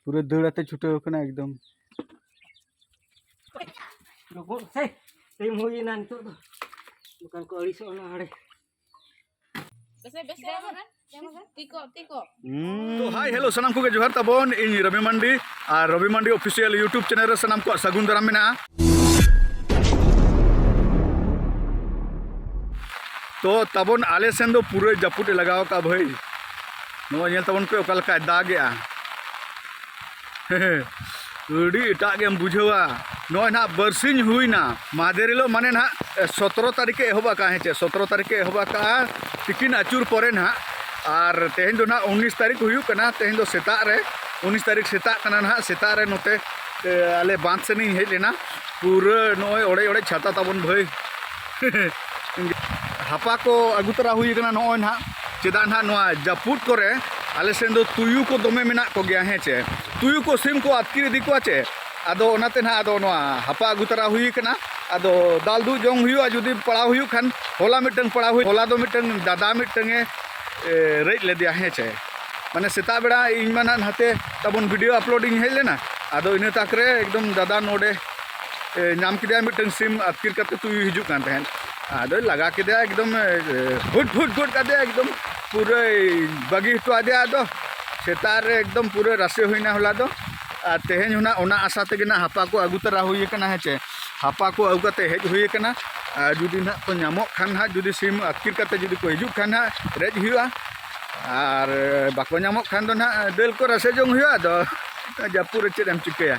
ᱯᱩᱨᱟᱹ ᱫᱟᱹᱲ ᱟᱛᱮ ᱪᱷᱩᱴᱟᱹᱣ ᱟᱠᱟᱱᱟ ᱮᱠᱫᱚᱢ ᱜᱚᱜ ᱥᱮ ᱴᱟᱭᱤᱢ ᱦᱩᱭᱮᱱᱟ ᱱᱤᱛᱚᱜ ᱫᱚ ᱫᱚᱠᱟᱱ ᱠᱚ ᱟᱹᱲᱤᱥᱚᱜ ᱚᱱᱟ ᱦᱟᱲᱮ ᱛᱚ ᱦᱟᱭ ᱦᱮᱞᱳ ᱥᱟᱱᱟᱢ ᱠᱚᱜᱮ ᱡᱚᱦᱟᱨ ᱛᱟᱵᱚᱱ ᱤᱧ ᱨᱚᱵᱤ ᱢᱟᱱᱰᱤ ᱟᱨ Robi Mandi official YouTube channel ᱨᱮ ᱥᱟᱱᱟᱢ ᱠᱚᱣᱟᱜ ᱥᱟᱹᱜᱩᱱ ᱫᱟᱨᱟᱢ ᱢᱮᱱᱟᱜᱼᱟ ᱛᱚ ᱛᱟᱵᱚᱱ ᱟᱞᱮ ᱥᱮᱱ ᱫᱚ ᱯᱩᱨᱟᱹ ᱡᱟᱹᱯᱩᱫ ᱮ ᱞᱟᱜᱟᱣ ᱟᱠᱟᱫ ᱵᱷᱟᱹᱭ ᱱᱚᱣᱟ ᱧᱮᱞ ᱛᱟᱵᱚᱱ ᱯᱮ ᱚᱠᱟ ᱞᱮᱠᱟᱭ ᱫᱟᱜᱮᱜᱼᱟ ᱟᱹᱰᱤ ᱮᱴᱟᱜ ᱜᱮᱢ ᱵᱩᱡᱷᱟᱹᱣᱟ ᱱᱚᱜᱼᱚᱭ ᱱᱟᱦᱟᱜ ᱵᱟᱨᱥᱤᱧ ᱦᱩᱭᱱᱟ ᱢᱟᱫᱮᱨ ᱦᱤᱞᱳᱜ ᱢᱟᱱᱮ ᱱᱟᱦᱟᱜ ᱥᱚᱛᱨᱚ ᱛᱟᱹᱨᱤᱠᱷ ᱮ ᱮᱦᱚᱵ ᱟᱠᱟᱫᱼᱟ ᱦᱮᱸ ᱪᱮ ᱥᱚᱛᱨᱚ ᱛᱟᱹᱨᱤᱠᱷ ᱮ ᱮᱦᱚᱵ ᱟᱠᱟᱫᱼᱟ ᱛᱤᱠᱤᱱ ᱟᱹᱪᱩᱨ ᱯᱚᱨᱮ ᱱᱟᱦᱟᱜ ᱟᱨ ᱛᱮᱦᱮᱧ ᱫᱚ ᱱᱟᱦᱟᱜ ᱩᱱᱤᱥ ᱛᱟᱹᱨᱤᱠᱷ ᱦᱩᱭᱩᱜ ᱠᱟᱱᱟ ᱛᱮᱦᱮᱧ ᱫᱚ ᱥᱮᱛᱟᱜ ᱨᱮ ᱩᱱᱤᱥ ᱛᱟᱹᱨᱤᱠᱷ ᱥᱮᱛᱟᱜ ᱠᱟᱱᱟ ᱱᱟᱦᱟᱜ ᱥᱮᱛᱟᱜ ᱨᱮ ᱱᱚᱛᱮ ᱟᱞᱮ ᱵᱟᱸᱫᱷ ᱥᱮᱱᱤᱧ ᱦᱮᱡ ᱞᱮᱱᱟ ᱯᱩᱨᱟᱹ ᱱᱚᱜᱼᱚᱭ ᱚᱲᱮᱡ ᱚᱲᱮᱡ ᱪᱷᱟᱛᱟ ᱛᱟᱵᱚᱱ ᱵᱷᱟᱹᱭ ᱦᱟᱯᱟ ᱠᱚ ᱟᱹᱜᱩ ᱛᱚᱨᱟ ᱦᱩᱭ ᱟᱠᱟᱱᱟ ᱱᱚᱜᱼᱚᱭ ᱱᱟᱦᱟᱜ ᱪᱮᱫᱟᱜ ᱱᱟᱦᱟᱜ ᱱᱚᱣᱟ ᱡᱟᱹᱯᱩᱫ ᱠᱚᱨᱮ ᱟᱞᱮ ᱥᱮᱱ ᱫᱚ ᱛᱩᱭᱩ ᱠᱚ ᱫᱚᱢᱮ ᱢᱮᱱᱟᱜ ᱠᱚᱜᱮᱭᱟ ᱦᱮᱸ ᱪᱮ ᱛᱩᱭᱩ ᱠᱚ ᱥᱤᱢ ᱠᱚ ᱟᱛᱠᱤᱨ ᱤᱫᱤ ᱠᱚᱣᱟ ᱪᱮ ᱟᱫᱚ ᱚᱱᱟᱛᱮ ᱱᱟᱦᱟᱜ ᱟᱫᱚ ᱱᱚᱣᱟ ᱦᱟᱯᱟ ᱟᱹᱜᱩ ᱛᱚᱨᱟ ᱦᱩᱭ ᱟᱠᱟᱱᱟ ᱟᱫᱚ ᱫᱟᱞ ᱫᱩᱜ ᱡᱚᱝ ᱦᱩᱭᱩᱜᱼᱟ ᱡᱩᱫᱤ ᱯᱟᱲᱟᱣ ᱦᱩᱭᱩᱜ ᱠᱷᱟᱱ ᱦᱚᱞᱟ ᱢᱤᱫᱴᱟᱝ ᱯᱟᱲᱟᱣ ᱦᱩᱭ ᱦᱚᱞᱟ ᱫᱚ ᱢᱤᱫᱴᱟᱝ ᱫᱟᱫᱟ ᱢᱤᱫᱴᱟᱝ ᱮ ᱨᱮᱡ ᱞᱮᱫᱮᱭᱟ ᱦᱮᱸ ᱪᱮ ᱢᱟᱱᱮ ᱥᱮᱛᱟᱜ ᱵᱮᱲᱟ ᱤᱧ ᱢᱟ ᱱᱟᱦᱟᱜ ᱱᱟᱛᱮ ᱛᱟᱵᱚᱱ ᱵᱷᱤᱰᱤᱭᱳ ᱟᱯᱞᱳᱰ ᱤᱧ ᱦᱮᱡ ᱞᱮᱱᱟ ᱟᱫᱚ ᱤᱱᱟᱹ ᱛᱟᱠ ᱨᱮ ᱮᱠᱫᱚᱢ ᱫᱟᱫᱟ ᱱᱚᱰᱮ ᱧᱟᱢ ᱠᱮᱫᱮᱭᱟ ᱢᱤᱫᱴᱟᱝ ᱥᱤᱢ ᱟᱹᱛᱠᱤᱨ ᱠᱟᱛᱮ ᱛᱩᱭᱩ ᱦᱤᱡᱩᱜ ᱠᱟᱱ ᱛᱟᱦᱮᱸᱫ ᱟᱫᱚᱭ ᱞᱟᱜᱟ ᱠᱮᱫᱮᱭᱟ ᱮᱠᱫᱚᱢ ᱦᱩᱴ ᱦᱩᱴ ᱜᱚᱫ ᱠᱟᱫᱮᱭᱟ ᱮᱠᱫᱚᱢ ᱯᱩᱨᱟᱹᱭ ᱵᱟᱹᱜᱤ ᱦᱚᱴᱚ ᱟᱫᱮᱭᱟ ᱟᱫᱚ ᱥᱮᱛᱟᱜ ᱨᱮ ᱮᱠᱫᱚᱢ ᱯᱩᱨᱟᱹ ᱨᱟᱥᱮ ᱦᱩᱭᱱᱟ ᱦᱚᱞᱟ ᱫᱚ ᱟᱨ ᱛᱮᱦᱮᱧ ᱦᱚᱸ ᱚᱱᱟ ᱟᱥᱟ ᱛᱮᱜᱮ ᱱᱟᱜ ᱦᱟᱯᱟ ᱠᱚ ᱟᱹᱜᱩ ᱛᱟᱨᱟ ᱦᱩᱭ ᱟᱠᱟᱱᱟ ᱦᱮᱸ ᱪᱮ ᱦᱟᱯᱟ ᱠᱚ ᱟᱹᱜᱩ ᱠᱟᱛᱮ ᱦᱮᱡ ᱦᱩᱭ ᱟᱠᱟᱱᱟ ᱟᱨ ᱡᱩᱫᱤ ᱱᱟᱜ ᱠᱚ ᱧᱟᱢᱚᱜ ᱠᱷᱟᱱ ᱱᱟᱜ ᱡᱩᱫᱤ ᱥᱤᱢ ᱟᱹᱛᱠᱤᱨ ᱠᱟᱛᱮ ᱡᱩᱫᱤ ᱠᱚ ᱦᱤᱡᱩᱜ ᱠᱷᱟᱱ ᱱᱟᱜ ᱨᱮᱡ ᱦᱩᱭᱩᱜᱼᱟ ᱟᱨ ᱵᱟᱠᱚ ᱧᱟᱢᱚᱜ ᱠᱷᱟᱱ ᱫᱚ ᱱᱟᱜ ᱫᱟᱹᱞ ᱠᱚ ᱨᱟᱥᱮ ᱡᱚᱝ ᱦᱩᱭᱩᱜᱼᱟ ᱟᱫᱚ ᱡᱟᱹᱯᱩᱫ ᱨᱮ ᱪᱮᱫ ᱮᱢ ᱪᱤᱠᱟᱹᱭᱟ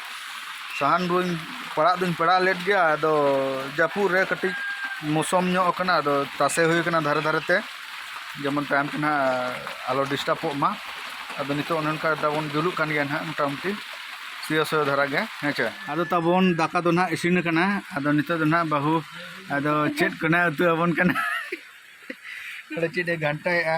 ᱥᱟᱦᱟᱱ ᱫᱩᱧ ᱯᱟᱲᱟᱜ ᱫᱩᱧ ᱯᱟᱲᱟᱜ ᱞᱮᱫ ᱜᱮᱭᱟ ᱟᱫᱚ ᱡᱟᱹᱯᱩᱫ ᱨᱮ ᱠᱟᱹᱴᱤᱡ ᱢᱚᱥᱚᱢ ᱧᱚᱜ ᱟᱠᱟᱱᱟ ᱟᱫᱚ ᱛᱟᱥᱮ ᱦᱩᱭ ᱟᱠᱟᱱᱟ ᱫᱷᱟᱨᱮ ᱫᱷᱟᱨᱮ ᱛᱮ ᱡᱮᱢᱚᱱ ᱛᱟᱭᱚᱢ ᱛᱮ ᱱᱟᱜ ᱟᱞᱚ ᱰᱤᱥᱴᱟᱵᱚᱜ ᱢᱟ ᱟᱫᱚ ᱱᱤᱛᱚᱜ ᱚᱱᱮ ᱚᱱᱠᱟ ᱛᱟᱵᱚᱱ ᱡᱩᱞᱩᱜ ᱠᱟᱱ ᱜᱮᱭᱟ ᱱᱟᱜ ᱢᱳᱴᱟᱢᱩᱴᱤ ᱥᱩᱭᱟᱹ ᱥᱩᱭᱟᱹ ᱫᱷᱟᱨᱟ ᱜᱮ ᱦᱮᱸ ᱪᱮ ᱟᱫᱚ ᱛᱟᱵᱚᱱ ᱫᱟᱠᱟ ᱫᱚ ᱱᱟᱜ ᱤᱥᱤᱱ ᱟᱠᱟᱱᱟ ᱟᱫᱚ ᱱᱤᱛᱚᱜ ᱫᱚ ᱱᱟᱜ ᱵᱟᱹᱦᱩ ᱟᱫᱚ ᱪᱮᱫ ᱠᱚ ᱱᱟᱜ ᱩᱛᱩ ᱟᱵᱚᱱ ᱠᱟᱱᱟ ᱟᱫᱚ ᱪᱮᱫ ᱮ ᱜᱷᱟᱱᱴᱟᱭᱮᱫᱼᱟ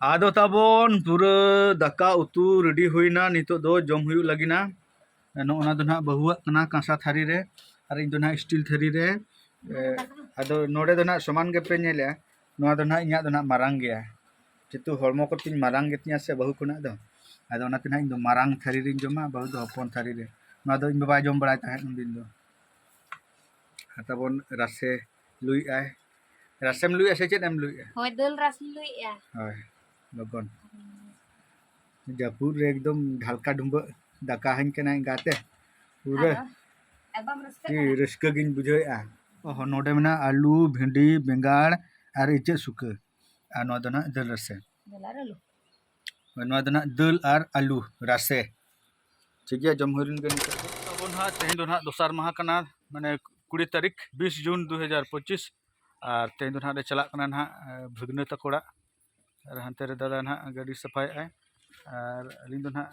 ᱟᱫᱚ ᱛᱟᱵᱚᱱ ᱯᱩᱨᱟᱹ ᱫᱟᱠᱟ ᱩᱛᱩ ᱨᱮᱰᱤ ᱦᱩᱭᱱᱟ ᱱᱤᱛᱚᱜ ᱫᱚ ᱡᱚᱢ ᱦᱩᱭᱩᱜ ᱞᱟᱹᱜᱤᱫ ᱱᱚᱜᱼᱚ ᱱᱟ ᱫᱚ ᱱᱟᱦᱟᱜ ᱵᱟᱹᱦᱩᱣᱟᱜ ᱠᱟᱱᱟ ᱠᱟᱸᱥᱟ ᱛᱷᱟᱹᱨᱤ ᱨᱮ ᱟᱨ ᱤᱧ ᱫᱚ ᱱᱟᱦᱟᱜ ᱥᱴᱤᱞ ᱛᱷᱟᱹᱨᱤ ᱨᱮ ᱟᱫᱚ ᱱᱚᱰᱮ ᱫᱚ ᱱᱟᱦᱟᱜ ᱥᱚᱢᱟᱱ ᱜᱮᱯᱮ ᱧᱮᱞᱟ ᱱᱚᱣᱟ ᱫᱚ ᱱᱟᱦᱟᱜ ᱤᱧᱟᱹᱜ ᱫᱚ ᱱᱟᱦᱟᱜ ᱢᱟᱨᱟᱝ ᱜᱮᱭᱟ ᱡᱮᱦᱮᱛᱩ ᱦᱚᱲᱢᱚ ᱠᱚᱛᱤᱧ ᱢᱟᱨᱟᱝ ᱜᱮᱛᱤᱧᱟ ᱥᱮ ᱵᱟᱹᱦᱩ ᱠᱷᱚᱱᱟᱜ ᱫᱚ ᱟᱫᱚ ᱚᱱᱟᱛᱮ ᱱᱟᱦᱟᱜ ᱤᱧ ᱫᱚ ᱢᱟᱨᱟᱝ ᱛᱷᱟᱹᱨᱤ ᱨᱤᱧ ᱡᱚᱢᱟ ᱵᱟᱹᱦᱩ ᱫᱚ ᱦᱚᱯᱚᱱ ᱛᱷᱟᱹᱨᱤ ᱨᱮ ᱱᱚᱣᱟ ᱫᱚ ᱤᱧ ᱵᱟᱵᱟᱭ ᱡᱚᱢ ᱵᱟᱲᱟᱭ ᱛᱟᱦᱮᱸᱫ ᱩᱱᱫᱤᱱ ᱫᱚ ᱛᱟᱵᱚᱱ ᱨᱟᱥᱮ ᱞᱩᱭ ᱟᱭ ᱨᱟᱥᱮᱢ ᱞᱩᱭ ᱟᱥᱮ ᱪᱮᱫ ᱮᱢ ᱞᱩᱭ ᱟ ᱦᱳᱭ ᱫᱟᱹᱞ ᱨᱟᱥ ᱞᱩᱭ ᱟ ᱦᱳᱭ ᱞᱚᱜᱚᱱ ᱡᱟᱹᱯᱩᱫ ᱨᱮ ᱮᱠᱫᱚᱢ ᱰᱷᱟᱞᱠᱟ ᱰᱩᱢᱵᱟᱹ ᱫᱟᱠᱟ ᱦᱟᱹᱧ ᱠᱟᱱᱟ ᱮᱸᱜᱟᱛᱮ ᱯᱩᱨᱟᱹ ᱨᱟᱹᱥᱠᱟᱹ ᱜᱤᱧ ᱵᱩᱡᱷᱟᱹᱣᱮᱫᱼᱟ ᱚᱦᱚ ᱱᱚᱰᱮ ᱢᱮᱱᱟᱜᱼᱟ ᱟᱹᱞᱩ ᱵᱷᱤᱱᱰᱤ ᱵᱮᱸᱜᱟᱲ ᱟᱨ ᱤᱪᱟᱹᱜ ᱥᱩᱠᱟᱹ ᱟᱨ ᱱᱚᱣᱟ ᱫᱚ ᱱᱟᱜ ᱫᱟᱹᱞ ᱨᱟᱥᱮ ᱱᱚᱣᱟ ᱫᱚ ᱱᱟᱦᱟᱜ ᱫᱟᱹᱞ ᱟᱨ ᱟᱹᱞᱩ ᱨᱟᱥᱮ ᱴᱷᱤᱠ ᱜᱮᱭᱟ ᱡᱚᱢ ᱦᱩᱭ ᱞᱮᱱ ᱜᱮ ᱱᱤᱛᱚᱜ ᱫᱚ ᱟᱵᱚ ᱱᱟᱦᱟᱜ ᱛᱮᱦᱮᱧ ᱫᱚ ᱱᱟᱦᱟᱜ ᱫᱚᱥᱟᱨ ᱢᱟᱦᱟ ᱠᱟᱱᱟ ᱢᱟᱱᱮ ᱠᱩᱲᱤ ᱛᱟᱹᱨᱤᱠᱷ ᱵᱤᱥ ᱡᱩᱱ ᱫᱩ ᱦᱟᱡᱟᱨ ᱯᱚᱸᱪᱤᱥ ᱟᱨ ᱛᱮᱦᱮᱧ ᱫᱚ ᱱᱟᱦᱟᱜ ᱞᱮ ᱪᱟᱞᱟᱜ ᱠᱟᱱᱟ ᱱᱟᱦᱟᱜ ᱵᱷᱟᱹᱜᱽᱱᱟᱹ ᱛᱟᱠᱚ ᱚᱲᱟᱜ ᱟᱨ ᱦᱟᱱᱛᱮ ᱨᱮ ᱫᱟᱫᱟ ᱱᱟᱦᱟᱜ ᱜᱟᱹᱰᱤ ᱥᱟᱯᱷᱟᱭᱮᱫ ᱟᱭ ᱟᱨ ᱟᱹᱞᱤᱧ ᱫᱚ ᱱᱟᱦᱟᱜ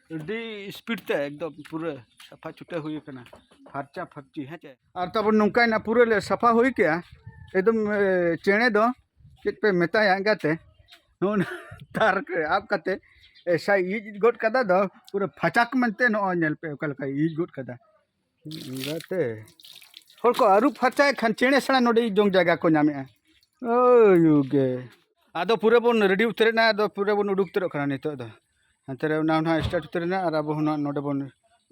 ᱟᱹᱰᱤ ᱥᱯᱤᱰ ᱛᱮ ᱮᱠᱫᱚᱢ ᱯᱩᱨᱟᱹ ᱥᱟᱯᱷᱟ ᱪᱷᱩᱴᱟᱹ ᱦᱩᱭ ᱟᱠᱟᱱᱟ ᱯᱷᱟᱨᱪᱟ ᱯᱷᱟᱨᱪᱤ ᱦᱮᱸ ᱪᱮ ᱟᱨ ᱛᱟᱵᱚᱱ ᱱᱚᱝᱠᱟᱭᱱᱟ ᱯᱩᱨᱟᱹ ᱞᱮ ᱥᱟᱯᱷᱟ ᱦᱩᱭ ᱠᱮᱜᱼᱟ ᱮᱠᱫᱚᱢ ᱪᱮᱬᱮ ᱫᱚ ᱪᱮᱫ ᱯᱮ ᱢᱮᱛᱟᱭᱟ ᱮᱸᱜᱟᱛᱮ ᱱᱚᱜᱼᱚ ᱛᱟᱨ ᱨᱮ ᱟᱵ ᱠᱟᱛᱮ ᱮᱥᱟᱭ ᱤᱡ ᱜᱚᱫ ᱠᱟᱫᱟ ᱫᱚ ᱯᱩᱨᱟᱹ ᱯᱷᱟᱪᱟᱠ ᱢᱮᱱᱛᱮ ᱱᱚᱜᱼᱚᱭ ᱧᱮᱞ ᱯᱮ ᱚᱠᱟ ᱞᱮᱠᱟᱭ ᱤᱡ ᱜᱚᱫ ᱠᱟᱫᱟ ᱜᱟᱛᱮ ᱦᱚᱲ ᱠᱚ ᱟᱹᱨᱩᱵ ᱯᱷᱟᱨᱪᱟᱭᱮᱫ ᱠᱷᱟᱱ ᱪᱮᱬᱮ ᱥᱮᱬᱟ ᱱᱚᱰᱮ ᱡᱚᱢ ᱡᱟᱭᱜᱟ ᱠᱚ ᱧᱟᱢᱮᱜᱼᱟ ᱳᱭᱩᱜᱮ ᱟᱫᱚ ᱯᱩᱨᱟᱹ ᱵᱚᱱ ᱨᱮᱰᱤ ᱩᱛᱟᱹᱨᱮᱱᱟ ᱟᱫᱚ ᱯᱩᱨᱟᱹ ᱵᱚᱱ ᱩᱰᱩᱠ ᱩᱛᱟᱹᱨᱚᱜ ᱠᱟᱱᱟ ᱱᱤᱛᱚᱜ ᱫᱚ ᱦᱟᱱᱛᱮ ᱨᱮ ᱚᱱᱟ ᱦᱚᱸ ᱥᱴᱟᱨᱴ ᱩᱛᱟᱹᱨᱮᱱᱟ ᱟᱨ ᱟᱵᱚ ᱦᱚᱸ ᱱᱚᱰᱮ ᱵᱚᱱ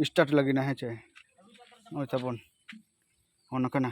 ᱥᱴᱟᱨᱴ ᱞᱟᱹᱜᱤᱫ ᱦᱮᱸ ᱪᱮ ᱱᱚᱜᱼᱚᱭ ᱛᱟᱵᱚᱱ ᱚᱱᱟ ᱠᱟᱱᱟ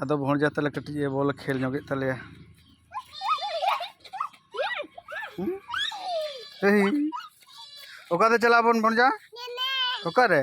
ᱟᱫᱚ ᱵᱷᱚᱸᱡᱟ ᱛᱟᱞᱮ ᱠᱟᱹᱴᱤᱡ ᱮ ᱵᱚᱞ ᱠᱷᱮᱞ ᱧᱚᱜᱮᱫ ᱛᱟᱞᱮᱭᱟ ᱚᱠᱟᱛᱮ ᱪᱟᱞᱟᱜ ᱟᱵᱚᱱ ᱵᱷᱚᱸᱡᱟ ᱚᱠᱟᱨᱮ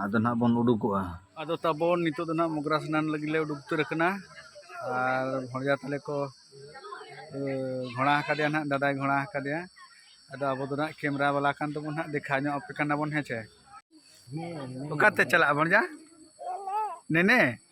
ᱟᱫᱚ ᱱᱟᱦᱟᱜ ᱵᱚᱱ ᱩᱰᱩᱠᱚᱜᱼᱟ ᱟᱫᱚ ᱛᱟᱵᱚᱱ ᱱᱤᱛᱚᱜ ᱫᱚ ᱱᱟᱦᱟᱜ ᱢᱚᱜᱽᱨᱟ ᱥᱱᱟᱱ ᱞᱟᱹᱜᱤᱫ ᱞᱮ ᱩᱰᱩᱠ ᱩᱛᱟᱹᱨ ᱟᱠᱟᱱᱟ ᱟᱨ ᱵᱷᱚᱲᱡᱟ ᱛᱟᱞᱮ ᱠᱚ ᱜᱷᱚᱲᱟ ᱟᱠᱟᱫᱮᱭᱟ ᱱᱟᱦᱟᱜ ᱫᱟᱫᱟᱭ ᱜᱷᱚᱲᱟ ᱟᱠᱟᱫᱮᱭᱟ ᱟᱫᱚ ᱟᱵᱚ ᱫᱚ ᱱᱟᱦᱟᱜ ᱠᱮᱢᱮᱨᱟ ᱵᱟᱞᱟ ᱠᱟᱱ ᱛᱮᱵᱚᱱ ᱱᱟᱦᱟᱜ ᱫᱮᱠᱷᱟ ᱧᱚᱜ ᱟᱯᱮ ᱠᱟᱱᱟ ᱵᱚᱱ ᱦᱮᱸ ᱪᱮ ᱚᱠᱟᱛᱮ ᱪᱟᱞᱟᱜᱼᱟ ᱵᱷᱚᱲᱡᱟ ᱱᱮᱱᱮ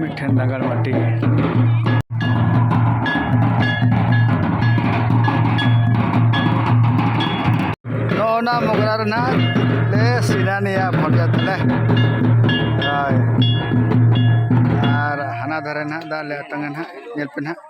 ᱢᱤᱫᱴᱷᱮᱱ ᱱᱟᱜᱟᱨ ᱢᱟᱹᱴᱤ ᱱᱚᱜᱼᱚᱱᱟ ᱢᱚᱜᱽᱨᱟ ᱨᱮᱱᱟᱜ ᱞᱮ ᱥᱤᱱᱟᱱᱤᱭᱟ ᱵᱷᱚᱨᱡᱟ ᱛᱟᱞᱮ ᱦᱳᱭ ᱟᱨ ᱦᱟᱱᱟ ᱫᱷᱟᱨᱮ ᱱᱟᱦᱟᱜ ᱫᱟᱜ ᱞᱮ ᱟᱛᱟᱝᱟ ᱱᱟᱦᱟᱜ ᱧᱮᱞ ᱯᱮ ᱱᱟᱦᱟᱜ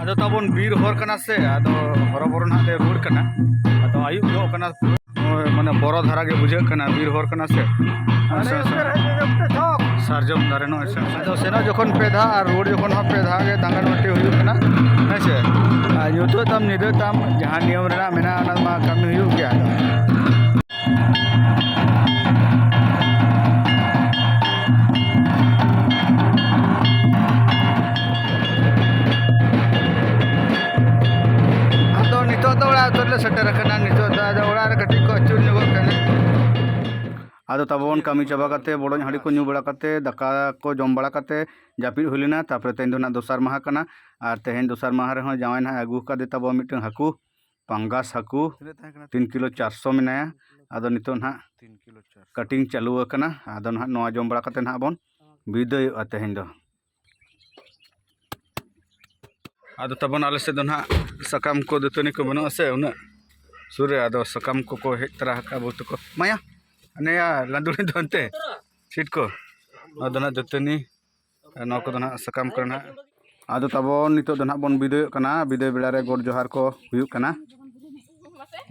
ᱟᱫᱚ ᱛᱟᱵᱚᱱ ᱵᱤᱨ ᱦᱚᱨ ᱠᱟᱱᱟ ᱥᱮ ᱟᱫᱚ ᱦᱚᱨᱚᱵᱚᱨᱚ ᱱᱟᱜ ᱞᱮ ᱨᱩᱣᱟᱹᱲ ᱠᱟᱱᱟ ᱟᱫᱚ ᱟᱹᱭᱩᱵ ᱧᱚᱜ ᱠᱟᱱᱟ ᱢᱟᱱᱮ ᱵᱚᱨᱚ ᱫᱷᱟᱨᱟ ᱜᱮ ᱵᱩᱡᱷᱟᱹᱜ ᱠᱟᱱᱟ ᱵᱤᱨ ᱦᱚᱨ ᱠᱟᱱᱟ ᱥᱮ ᱥᱟᱨᱡᱚᱢ ᱫᱟᱨᱮ ᱱᱚᱜᱼᱚᱭ ᱟᱫᱚ ᱥᱮᱱᱚᱜ ᱡᱚᱠᱷᱚᱱ ᱯᱮ ᱫᱷᱟᱣ ᱟᱨ ᱨᱩᱣᱟᱹᱲ ᱡᱚᱠᱷᱚᱱ ᱦᱚᱸ ᱯᱮ ᱫᱷᱟᱣ ᱜᱮ ᱫᱟᱸᱜᱟᱱ ᱵᱟᱹᱴᱤ ᱦᱩᱭᱩᱜ ᱠᱟᱱᱟ ᱦᱮᱸ ᱥᱮ ᱟᱨ ᱧᱩᱛᱟᱹᱜ ᱛᱟᱢ ᱧᱤᱫᱟᱹ ᱛᱟᱢ ᱡᱟᱦᱟᱸ ᱱᱤᱭᱚᱢ ᱨᱮᱱᱟᱜ ᱢᱮᱱᱟᱜᱼᱟ ᱚᱱᱟ ᱢᱟ ᱠᱟᱹᱢᱤ ᱦᱩᱭᱩᱜ ᱜᱮᱭᱟ ᱟᱫᱚ ᱱᱤᱛᱚᱜ ᱫᱚ ᱚᱲᱟᱜ ᱩᱛᱟᱹᱨ ᱞᱮ ᱥᱮᱴᱮᱨ ᱟᱠᱟᱱᱟ ᱱᱤᱛᱚᱜ ᱫᱚ ᱟᱫᱚ ᱚᱲᱟᱜ ᱨᱮ ᱠᱟᱹᱴᱤᱡ ᱠᱚ ᱟᱹᱪᱩᱨ ᱧᱚᱜᱚᱜ ᱠᱟᱱᱟ ᱟᱫᱚ ᱛᱟᱵᱚᱱ ᱠᱟᱹᱢᱤ ᱪᱟᱵᱟ ᱠᱟᱛᱮ ᱵᱚᱰᱚᱡ ᱦᱟᱺᱰᱤ ᱠᱚ ᱧᱩ ᱵᱟᱲᱟ ᱠᱟᱛᱮ ᱫᱟᱠᱟ ᱠᱚ ᱡᱚᱢ ᱵᱟᱲᱟ ᱠᱟᱛᱮ ᱡᱟᱹᱯᱤᱫ ᱦᱩᱭ ᱞᱮᱱᱟ ᱛᱟᱨᱯᱚᱨᱮ ᱛᱮᱦᱮᱧ ᱫᱚ ᱱᱟᱦᱟᱜ ᱫᱚᱥᱟᱨ ᱢᱟᱦᱟ ᱠᱟᱱᱟ ᱟᱨ ᱛᱮᱦᱮᱧ ᱫᱚᱥᱟᱨ ᱢᱟᱦᱟ ᱨᱮᱦᱚᱸ ᱡᱟᱶᱟᱭ ᱱᱟᱦᱟᱜ ᱮ ᱟᱹᱜᱩ ᱟᱠᱟᱫᱮ ᱛᱟᱵᱚᱱ ᱢᱤᱫᱴᱟᱝ ᱦᱟᱹᱠᱩ ᱯᱟᱝᱜᱟᱥ ᱦᱟᱹᱠᱩ ᱛᱤᱱ ᱠᱤᱞᱳ ᱪᱟᱨᱥᱚ ᱢᱮᱱᱟᱭᱟ ᱟᱫᱚ ᱱᱤᱛᱚᱜ ᱱᱟᱦᱟᱜ ᱠᱟᱴᱤᱝ ᱪᱟᱹᱞᱩ ᱟᱠᱟᱱᱟ ᱟᱫᱚ ᱱᱟᱦᱟᱜ ᱱᱚᱣᱟ ᱡᱚᱢ ᱵᱟᱲᱟ ᱠᱟᱛᱮ ᱱᱟᱦᱟᱜ ᱵᱚᱱ ᱵᱤᱫᱟᱹᱭᱚᱜᱼᱟ ᱛᱮᱦᱮᱧ ᱫᱚ ᱟᱫᱚ ᱛᱟᱵᱚᱱ ᱟᱞᱮ ᱥᱮᱫ ᱫᱚ ᱱᱟᱦᱟᱜ ᱥᱟᱠᱟᱢ ᱠᱚ ᱫᱟᱹᱛᱟᱹᱱᱤ ᱠᱚ ᱵᱟᱹᱱᱩᱜᱼᱟ ᱥᱮ ᱩᱱᱟᱹᱜ ᱥᱩᱨ ᱨᱮ ᱟᱫᱚ ᱥᱟᱠᱟᱢ ᱠᱚᱠᱚ ᱦᱮᱡ ᱛᱚᱨᱟ ᱟᱠᱟᱫᱼᱟ ᱵᱚᱦᱩᱛ ᱠᱚ ᱢᱟᱭᱟ ᱱᱮᱭᱟ ᱞᱟᱸᱫᱩᱲᱤ ᱫᱚ ᱚᱱᱛᱮ ᱥᱤᱴ ᱠᱚ ᱱᱚᱣᱟ ᱫᱚ ᱱᱟᱦᱟᱜ ᱫᱟᱹᱛᱟᱹᱱᱤ ᱱᱚᱣᱟ ᱠᱚᱫᱚ ᱱᱟᱦᱟᱜ ᱥᱟᱠᱟᱢ ᱠᱚᱨᱮ ᱱᱟᱦᱟᱜ ᱟᱫᱚ ᱛᱟᱵᱚᱱ ᱱᱤᱛᱚᱜ ᱫᱚ ᱱᱟᱦᱟᱜ ᱵᱚᱱ ᱵᱤᱫᱟᱹᱭᱚᱜ ᱠᱟᱱᱟ ᱵᱤᱫᱟᱹᱭ ᱵᱮᱲᱟ ᱨᱮ ᱜᱚᱰ ᱡᱚᱦᱟᱨ ᱠᱚ ᱦᱩᱭᱩᱜ ᱠᱟᱱᱟ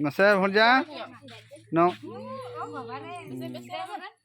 ᱢᱟᱥᱮ ᱵᱷᱚᱨᱡᱟ ᱱᱚ